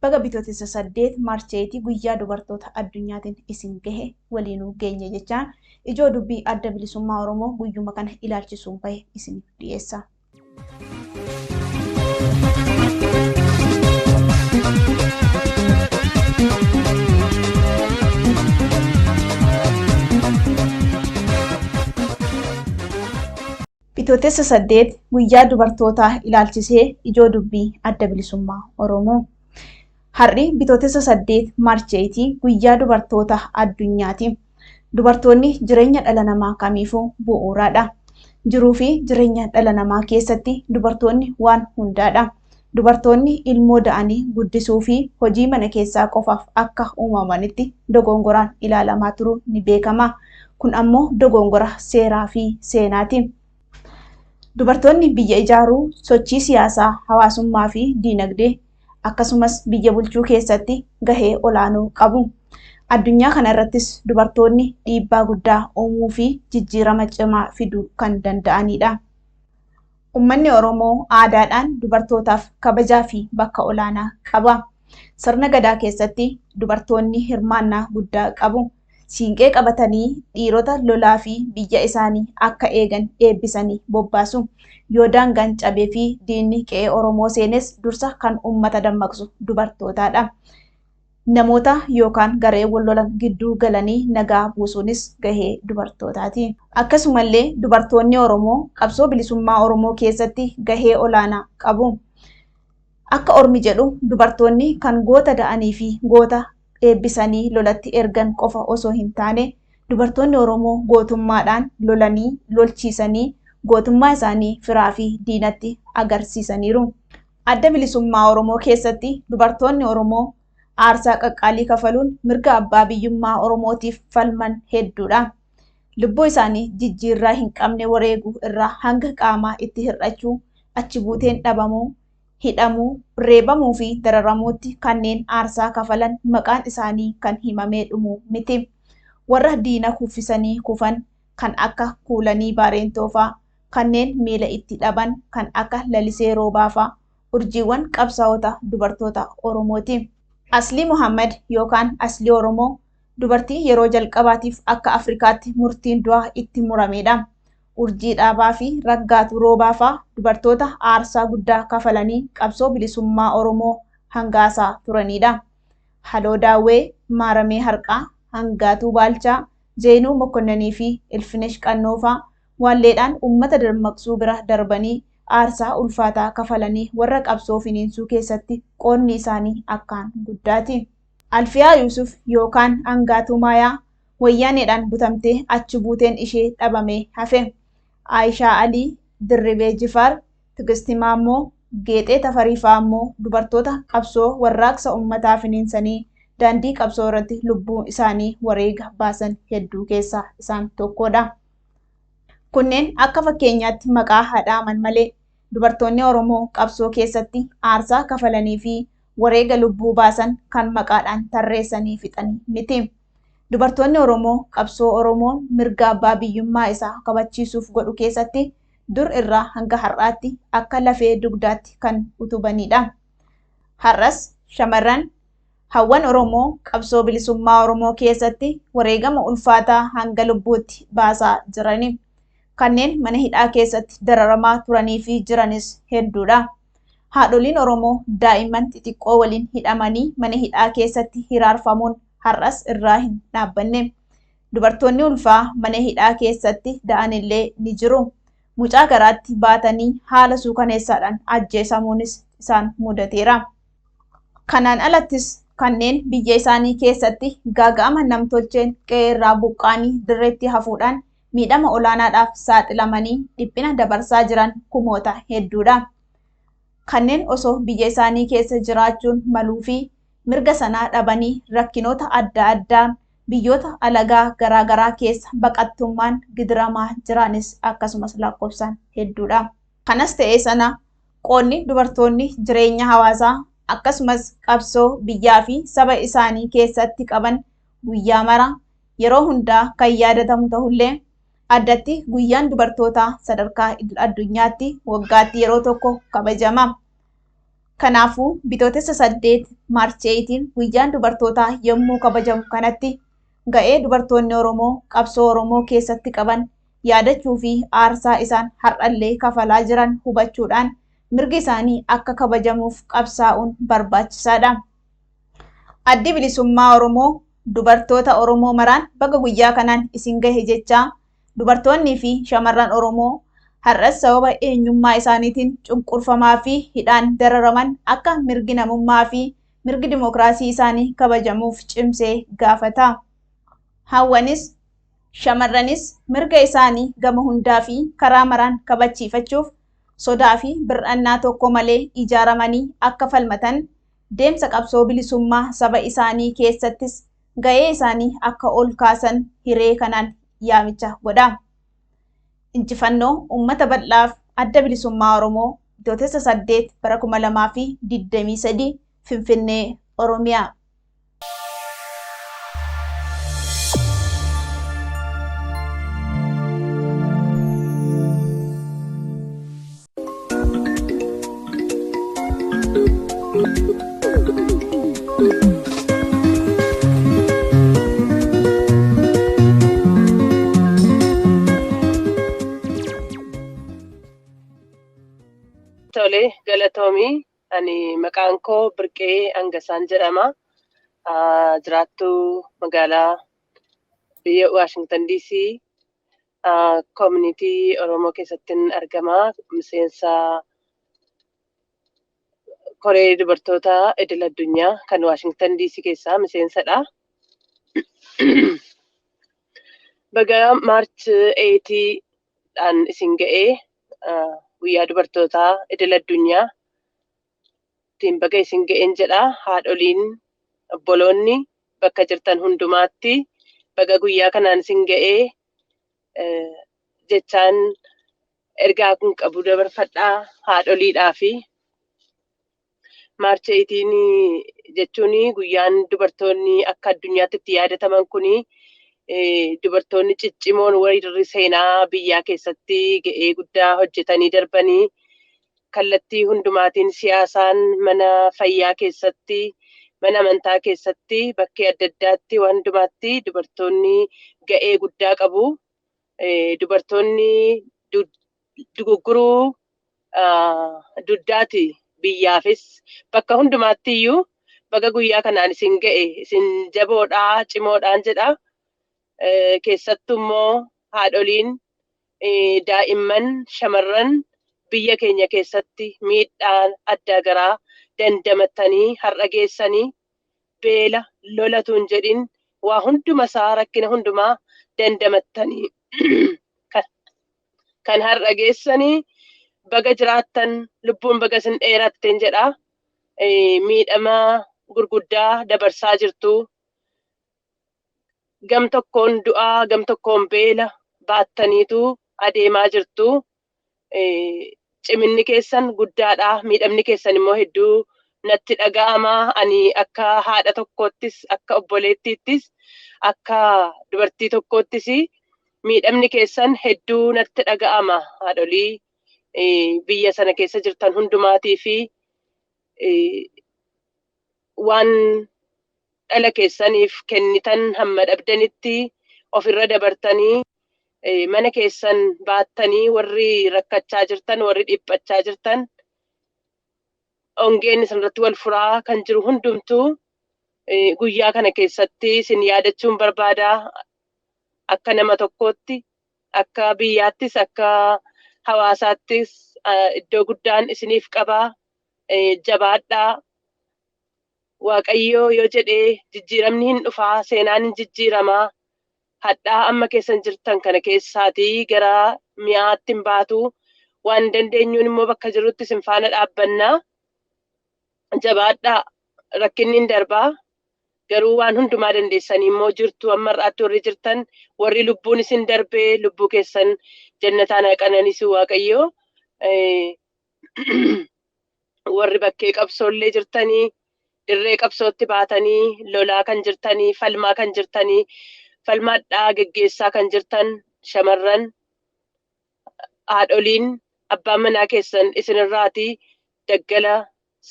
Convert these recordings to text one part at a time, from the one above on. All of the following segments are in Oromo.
Baga Bitootessa 8, March 8, Guyyaa Dubartoota Addunyaatiin isin gahe, waliinuu geenye jechaan, ijoo dubbii Adda Bilisummaa Oromoo guyyuma kana ilaalchisuun bahe isiniif dhiyeessa. Bitootessa 8 guyyaa dubartootaa ilaalchisee ijoo dubbii Adda Bilisummaa Oromoo. Har'i Bitootessa 8 March 8 guyyaa dubartoota addunyaati. Dubartoonni jireenya dhala namaa kamiifuu bu'uuraadha. Jiruu fi jireenya dhala namaa keessatti dubartoonni waan hundaadha. Dubartoonni ilmoo da'anii guddisuu fi hojii mana keessaa qofaaf akka uumamanitti dogoongoraan ilaalamaa turuun ni beekama. Kun ammoo dogoongora seeraa fi seenaati. Dubartoonni biyya ijaaruu, sochii siyaasaa, hawaasummaa fi diinagdee, akkasumas biyya bulchuu keessatti gahee olaanoo qabu. Addunyaa kana irrattis dubartoonni dhiibbaa guddaa uumuu fi jijjiirama cimaa fiduu kan danda'anidha. Ummanni Oromoo aadaadhaan dubartootaaf kabajaafi bakka olaanaa qaba. Sirna Gadaa keessatti dubartoonni hirmaannaa guddaa qabu. Siinqee qabatanii dhiirota lolaafi biyya isaanii akka eegan eebbisanii bobbaasu. Yoo daangaan cabeefi diinni qe'ee Oromoo seenes dursa kan ummata dammaqsu dubartootaadha. Namoota yookaan garee wal lolan gidduu galanii nagaa buusuunis gahee dubartootaati. Akkasumallee dubartoonni Oromoo qabsoo bilisummaa Oromoo keessatti gahee olaanaa qabu. Akka ormi jedhu dubartoonni kan goota da'anii fi goota eebbisanii lolatti ergan qofa osoo hin taane dubartoonni Oromoo gootummaadhaan lolanii lolchiisanii gootummaa isaanii firaa fi diinatti agarsiisaniiru. Adda Bilisummaa Oromoo keessatti dubartoonni Oromoo aarsaa qaqqaalii kafaluun mirga abbaa biyyummaa Oromootiif falman hedduudha. Lubbuu isaanii jijjiirraa hin qabne wareegu irraa hanga qaamaa itti hir'achuu, achi buuteen dhabamuu, hidhamuu, reebamuu fi dararamuutti kanneen aarsaa kafalan maqaan isaanii kan himamee dhumu miti. Warra diina kuffisanii kufan, kan akka Kuulanii Baareentoo faa, kanneen miila itti dhaban kan akka Lalisee Roobaa faa urjiiwwan qabsaa'ota dubartoota Oromoo ti. Aslii Mohaammad yookaan Aslii Oromoo dubartii yeroo jalqabaatiif akka Afrikaatti murtiin du'aa itti muramee dha. Urjii Dhaabaa fi Raggaatuu Roobaa faa dubartoota aarsaa guddaa kafalanii qabsoo bilisummaa Oromoo hangaasaa turanii dha. Haloo Daawwee, Maaramee Harqaa, Hangaatuu Baalchaa, Zeenuu Mokonnanii fi Ilfinesh Qannoo faa waalleedhaan ummata dammaqsuu bira darbanii aarsaa ulfaataa kafalanii warra qabsoo finiinsuu keessatti qoodni isaanii akkaan guddaati. Alfiyaa Yuusuf yookaan Angaatuu Maayaa Wayyaaneedhaan butamtee achi buuteen ishee dhabamee hafe. Aayishaa Alii, Dirribee Jifaar, Tigisti Maammoo, Geexee Tafarii fa'aa immoo dubartoota qabsoo warraaqsa ummataa finiinsanii daandii qabsoo irratti lubbuu isaanii wareega baasan hedduu keessaa isaan tokkodha. Kunneen akka fakkeenyaatti maqaa haa dhaaman malee dubartoonni Oromoo qabsoo keessatti aarsaa kafalanii fi wareega lubbuu baasan kan maqaadhaan tarreessanii fixan miti. Dubartoonni Oromoo qabsoo Oromoon mirga abbaa biyyummaa isaa kabachiisuuf godhu keessatti dur irraa hanga har'aatti akka lafee dugdaatti kan utubaniidha. Har'as shamarran hawwan Oromoo qabsoo bilisummaa Oromoo keessatti wareegama ulfaataa hanga lubbuutti baasaa jirani. Kanneen mana hidhaa keessatti dararamaa turanii fi jiranis hedduudha. Haadholiin Oromoo daa'imman xixiqqoo waliin hidhamanii mana hidhaa keessatti hiraarfamuun har'as irraa hin dhaabbanne. Dubartoonni ulfaa mana hidhaa keessatti da'anillee ni jiru. Mucaa garaatti baatanii haala suukaneessaadhaan ajjeesamuunis isaan mudateera. Kanaan alattis kanneen biyya isaanii keessatti gaaga'ama namtolcheen qe'eerraa buqqa'anii dirreetti hafuudhaan miidhama olaanaadhaaf saaxilamanii dhiphina dabarsaa jiran kumoota hedduudha. Kanneen osoo biyya isaanii keessa jiraachuun maluufi mirga sanaa dhabanii rakkinoota adda addaan biyyoota alagaa garaa garaa keessa baqattummaan gidiramaa jiraanis akkasumas lakkoofsaan hedduudha. Kanas ta'ee sana qoodni dubartoonni jireenya hawaasaa akkasumas qabsoo biyyaa fi saba isaanii keessatti qaban guyyaa mara yeroo hundaa kan yaadatamu ta'ullee addatti guyyaan dubartootaa sadarkaa idil addunyaatti waggaatti yeroo tokko kabajama. Kanaafuu bitootessa 8 March 8 guyyaan dubartootaa yommuu kabajamu kanatti ga'ee dubartoonni Oromoo qabsoo Oromoo keessatti qaban yaadachuu fi aarsaa isaan har'allee kafalaa jiran hubachuudhaan mirgi isaanii akka kabajamuuf qabsaa'uun barbaachisaadha. Addi Bilisummaa Oromoo dubartoota Oromoo maraan baga guyyaa kanaan isin gahe jechaa Dubartoonnii fi shamarran Oromoo har'as sababa eenyummaa isaaniitiin cunqurfamaa fi hidhaan dararaman akka mirgi namummaa fi mirgi dimookiraasii isaanii kabajamuuf cimsee gaafata. Hawwanis, shamarranis mirga isaanii gama hundaa fi karaa maraan kabachiifachuuf sodaa fi bir'annaa tokko malee ijaaramanii akka falmatan, deemsa qabsoo bilisummaa saba isaanii keessattis ga'ee isaanii akka ol kaasan hiree kanaan yaamicha godha. Injifannoo uummata bal'aaf Adda Bilisummaa Oromoo Bitootessa 8 bara 2023 Finfinnee, Oromiyaa. Tole galatoomii ani maqaan koo Birqee Angasaan jedhama. Ah, Jiraattuu magaalaa biyya Waashingtan DC Community Oromoo keessattin argama. Miseensa koree dubartoota idil addunyaa kan Waashingtan DC keessaa miseensadha. Baga Maarch 8 dhaan isin ga'ee guyyaa dubartootaa idil addunyaa ittiin baga isin ga'een jedha haadholiin obboloonni bakka jirtan hundumaatti baga guyyaa kanaan isin ga'ee jechaan ergaa kun qabu dabarfadhaa haadholiidhaa fi maarcha itiin jechuun guyyaan dubartoonni akka addunyaatti itti yaadataman kun dubartoonni ciccimoon warri seenaa biyyaa keessatti ga'ee guddaa hojjetanii darbanii kallattii hundumaatiin siyaasaan, mana fayyaa keessatti, mana amantaa keessatti, bakkee adda addaatti waan hundumaatti dubartoonni ga'ee guddaa qabu. Dubartoonni dugugguruu dugdaati biyyaafis bakka hundumaatti iyyuu baga guyyaa kanaan isin ga'e isin jaboodhaa cimoodhaan jedha. keessattu immoo haadholiin daa'imman shamarran biyya keenya keessatti miidhaan addaa garaa dandamatanii har'a geessanii beela lolatuun jedhin waa hunduma isaa rakkina hundumaa dandamattanii kan har'a geessanii baga jiraattan lubbuun baga isin dheeratteen jedha miidhama gurguddaa dabarsaa jirtu gam tokkoon du'aa gam tokkoon beela baattaniitu adeemaa jirtu. Ciminni keessan guddaadha. Miidhamni keessan immoo hedduu natti dhaga'ama. Ani akka haadha tokkoottis, akka obboleettiittis, akka dubartii tokkoottis miidhamni keessan hedduu natti dhaga'ama. Haadholii biyya sana keessa jirtan hundumaatii fi waan dhala keessaniif kennitan hamma dhabdanitti of irra dabartanii eh, mana keessan baattanii warri rakkachaa jirtan warri dhiphachaa jirtan ongeen isinirratti wal furaa kan jiru hundumtuu eh, guyyaa kana keessatti isin yaadachuun barbaada akka nama tokkootti akka biyyaattis akka hawaasaattis ah, iddoo guddaan isiniif qabaa jabaadhaa waaqayyoo yoo jedhee jijjiiramni hin dhufaa seenaan hin jijjiiramaa hadhaa amma keessan jirtan kana keessaatii gara mi'aatti hin baatu waan dandeenyuun immoo bakka jirutti isin faana dhaabbannaa jabaadhaa rakkinni hin darbaa garuu waan hundumaa dandeessanii immoo jirtu amma irraatti warri jirtan warri lubbuun isin darbee lubbuu keessan jannataan haa qananisu waaqayyoo warri bakkee qabsoollee jirtanii dirree qabsootti baatanii lolaa kan jirtanii falmaa kan jirtanii falmaadhaa geggeessaa kan jirtan shamarran haadholiin abbaan manaa keessan isinirraatii daggala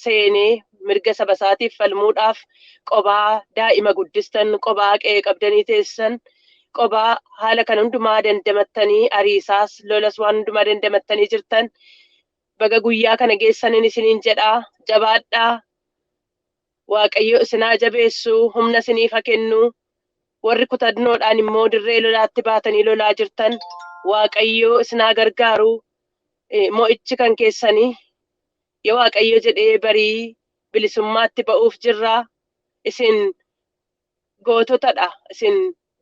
seenee mirga saba isaatiif falmuudhaaf qobaa daa'ima guddistan qobaa qe'ee qabdanii teessan qobaa haala kana hundumaa dandamattanii ariisaas lolas waan hundumaa dandamattanii jirtan baga guyyaa kana geessanin isiniin jedha jabaadhaa waaqayyo isinaa jabeessu humna isiniif haa kennu warri kutannoodhaan immoo dirree lolaatti baatanii lolaa jirtan waaqayyo isinaa gargaaru eh, mo'ichi kan keessanii yoo waaqayyo jedhee barii bilisummaatti ba'uuf jirra isin goototadha isin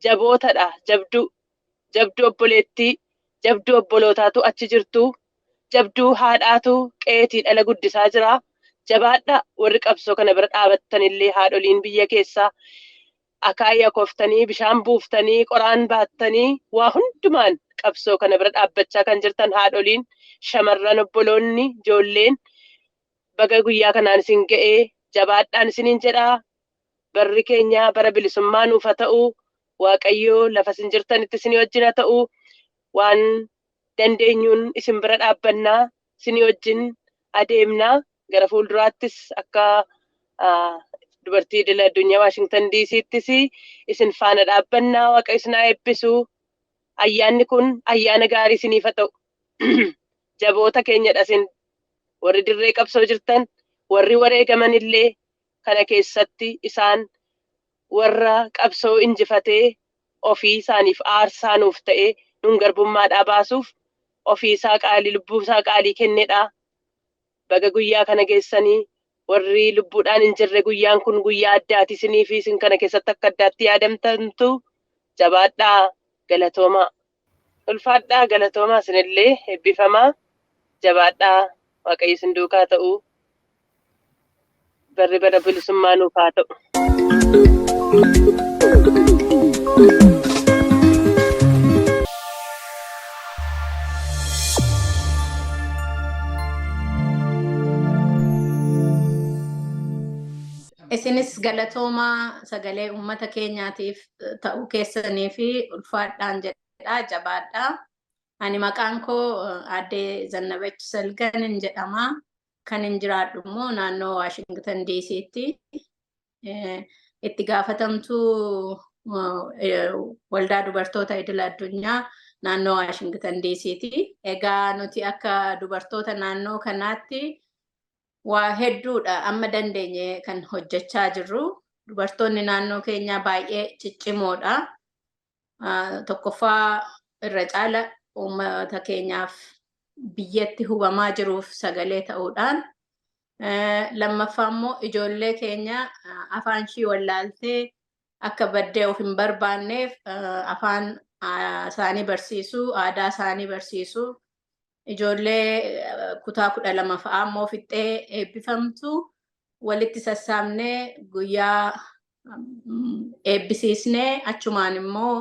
jabootadha jabduu jabduu obboleettii jabduu obbolootaatu achi jirtuu jabduu haadhaatu qeetii dhala guddisaa jiraa jabaadha warri qabsoo kana bira dhaabattanillee haadholiin biyya keessaa akaayii akooftanii bishaan buuftanii qoraan baattanii waa hundumaan qabsoo kana bira dhaabbachaa kan jirtan haadholiin shamarran obboloonni ijoolleen baga guyyaa kanaan isin ga'ee jabaadhaan isiniin jedhaa Barri keenya bara bilisummaa nuuf ha ta'u waaqayyo lafa isin jirtanitti isinii wajjin ha ta'u waan dandeenyuun isin bira dhaabbanna isinii wajjin adeemna gara fuulduraattis akka ah, dubartii idil addunyaa Waashingtan DC'ttis isin faana dhaabbanna waaqayyo isin haa eebbisu ayyaanni kun ayyaana gaarii isiniif ha ta'u jaboota keenyadha isin warri dirree qabsoo jirtan warri wareegaman illee kana keessatti isaan warra qabsoo injifatee ofii isaaniif aarsaa nuuf ta'e nun garbummaadhaa baasuuf ofii isaa qaalii lubbuu isaa qaalii kennedha. Baga guyyaa kana geessanii warri lubbuudhaan hin jirre guyyaan kun guyyaa addaati isiniifi isin kana keessatti akka addaatti yaadamtantu jabaadhaa galatoomaa. Ulfaadhaa galatoomaa isinillee ebbifamaa jabaadhaa waaqayyo isin duukaa ta'u barri bara bilisummaa nuuf haa ta'u. Isinis galatoomaa sagalee uummata keenyaatiif ta'uu keessanii fi ulfaadhaan jedha jabaadha. Ani maqaan koo aadde Zannabach Salgan hin jedhama. Kan hin jiraadhu immoo naannoo Waashingtan DC'tti itti gaafatamtuu waldaa dubartoota idil addunyaa naannoo Waashingtan DC'ti. Egaa nuti akka dubartoota naannoo kanaatti Waa hedduudha amma dandeenye kan hojjechaa jirru. Dubartoonni naannoo keenyaa baay'ee ciccimoodha. Tokkoffaa irra caala uummata keenyaaf biyyatti hubamaa jiruuf sagalee ta'uudhaan lammaffaa immoo ijoollee keenya afaan ishii wallaaltee akka baddee of hin barbaanneef afaan isaanii barsiisuu, aadaa isaanii barsiisuu, ijoollee kutaa kudha lama fa'aa immoo fixxee eebbifamtu walitti sassaabnee guyyaa eebbisiisnee achumaan immoo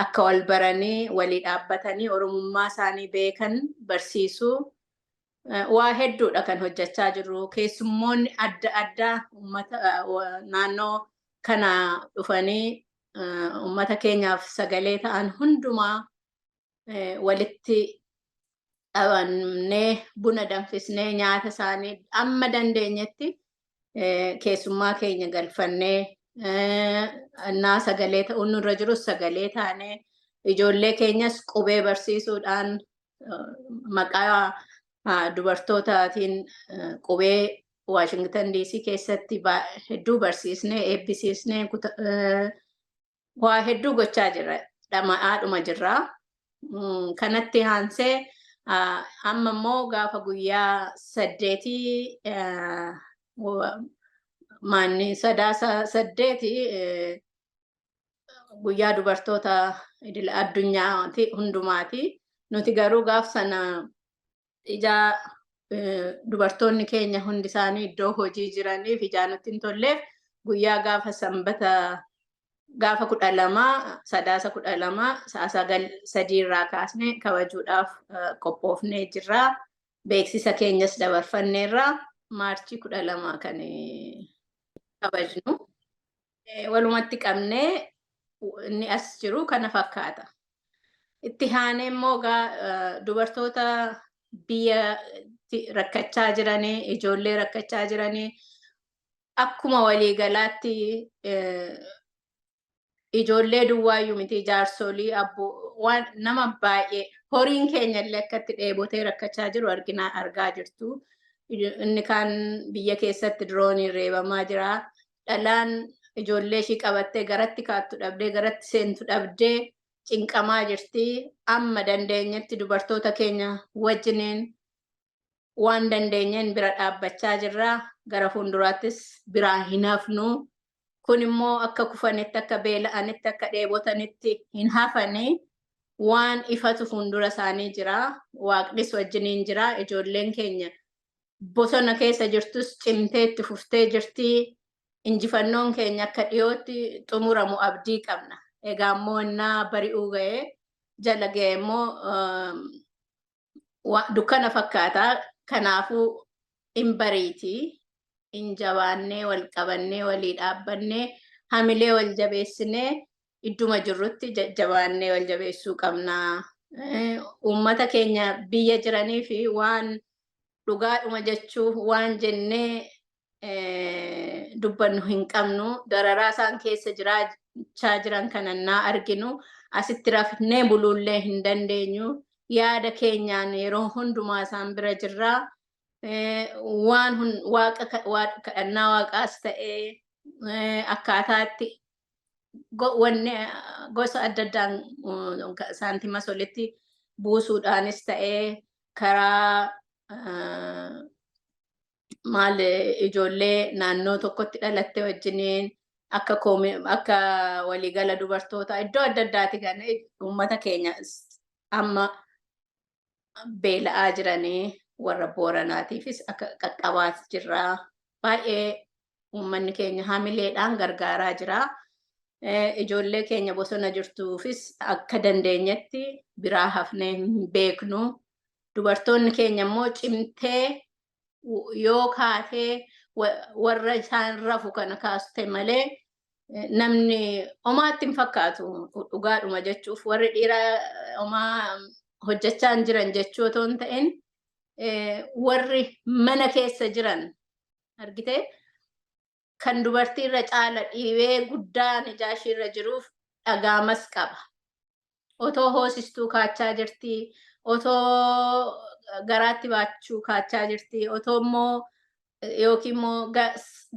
akka wal baranii walii dhaabbatanii oromummaa isaanii beekan barsiisuu waa hedduudha kan hojjechaa jirru keessummoonni adda addaa ummata naannoo kana dhufanii ummata keenyaaf sagalee ta'an hundumaa walitti dhabannee buna danfisnee nyaata isaanii amma dandeenyetti keessummaa keenya galfannee naa sagalee ta'uun nurra jirus sagalee taanee ijoollee keenyas qubee barsiisuudhaan maqaa dubartootaatiin qubee Waashingtan DC keessatti hedduu barsiisnee eebbisiisnee waa hedduu gochaa jirra dhama'aadhuma jirra kanatti haansee amma immoo gaafa guyyaa saddeetii maanni sadaasa saddeeti guyyaa dubartoota idil addunyaa hundumaati nuti garuu gaaf sana ijaa dubartoonni keenya hundi isaanii iddoo hojii jiraniif ijaa nutti hin tolleef guyyaa gaafa sanbata gaafa kudha lama sadaasa kudha lama sa'a sagal sadii irraa kaasne kabajuudhaaf qophoofnee jirra. Beeksisa keenyas dabarfanneerra maarchii kudha lama kan kabajnu. Walumatti qabnee inni as jiru kana fakkaata. Itti haanee immoo gaa dubartoota biyya rakkachaa jiranii, ijoollee rakkachaa jiranii akkuma waliigalaatti ijoollee duwwaayyuu miti jaarsolii abboo waan nama baay'ee horiin keenya illee akkatti dheebotee rakkachaa jiru arginaa argaa jirtu. Inni kaan biyya keessatti dirooniin reebamaa jira. dhalaan ijoollee ishii qabattee garatti kaattu dhabdee garatti seentu dhabdee cinqamaa jirti. Amma dandeenyetti dubartoota keenya wajjiniin waan dandeenyeen bira dhaabbachaa jirra. Gara fuulduraattis biraa hin hafnu. Kun immoo akka kufanitti, akka beela'anitti, akka dheebotanitti hin hafanii waan ifatu fuuldura isaanii jira. Waaqnis wajjiniin jira. Ijoolleen keenya bosona keessa jirtus cimtee itti fuftee jirti. Injifannoon keenya akka dhiyootti xumuramu abdii qabna. Egaa immoo innaa bari'uu ga'ee jala ga'e immoo dukkana fakkaata. Kanaafuu in bariiti. In jabaannee wal qabannee walii dhaabbannee hamilee wal jabeessinee idduma jirrutti jajjabaannee wal jabeessuu qabna. Uummata keenya biyya jiranii fi waan dhugaadhuma jechuuf waan jennee dubbannu hin qabnu. Dararaa isaan keessa jiraachaa jiran kana naa arginu asitti rafnee buluullee hin dandeenyu. Yaada keenyaan yeroo hundumaa isaan bira jirra. Waan kadhannaa waaqaas ta'ee akkaataatti wanni gosa adda addaan saantima solitti buusuudhaanis ta'ee karaa maal ijoollee naannoo tokkotti dhalatte wajjiniin akka akka waliigala dubartoota iddoo adda addaati kan uummata keenya amma beela'aa jiranii warra booranaatiifis akka qaqqabaas jirra. Baay'ee uummanni keenya hamileedhaan gargaaraa jira. Ijoollee keenya bosona jirtuufis akka dandeenyetti biraa hafnee hin beeknu. Dubartoonni keenya immoo cimtee yoo kaatee warra isaan rafu kana kaaste malee namni omaatti hin fakkaatu dhugaadhuma jechuuf warri dhiiraa omaa hojjechaa hin jiran jechuu otoo hin ta'in warri mana keessa jiran argitee kan dubartii irra caala dhiibee guddaa najaashii irra jiruuf dhagaamas qaba. Otoo hoosistuu kaachaa jirtii, otoo garaatti baachuu kaachaa jirtii, otoo immoo yookiin immoo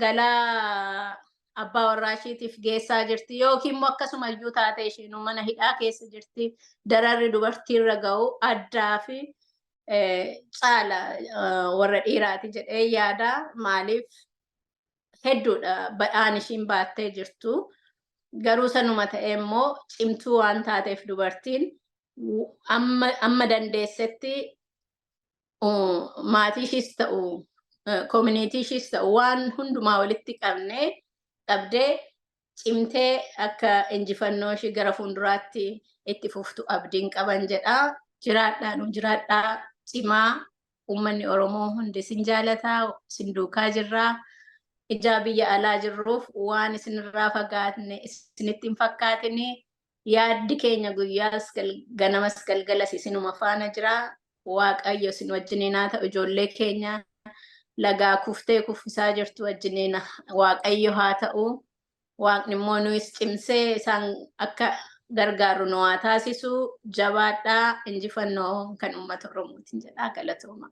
galaa abbaa warraa ishiitiif geessaa jirti yookiin immoo akkasuma iyyuu taatee isheen mana hidhaa keessa jirti dararri dubartiirra ga'u addaa fi caala warra dhiiraati jedhee yaada maaliif hedduudha badhaan ishiin baattee jirtu. Garuu sanuma ta'ee immoo cimtuu waan taateef dubartiin amma dandeessetti maatii ishiis ta'u koominiitii ishiis ta'u waan hundumaa walitti qabnee qabdee cimtee akka injifannoo ishii gara fuulduraatti itti fuftu abdiin qaban jedha. Jiraadhaa nu jiraadhaa cimaa uummanni Oromoo hundi isin jaalataa isin duukaa jirraa. Ijaa biyya alaa jirruuf waan isinirraa fagaatne isinitti hin fakkaatinii Yaaddi keenya guyyaas ganamas galgalas isinuma faana jira. Waaqayyo isin wajjiniin haa ta'u ijoollee keenya lagaa kuftee kuffisaa jirtu wajjiniin waaqayyo haa ta'u. Waaqni immoo nuyis cimsee isaan akka gargaarru nu haa taasisu. Jabaadhaa injifannoo kan uummata Oromootiin jedhaa galatoomaa.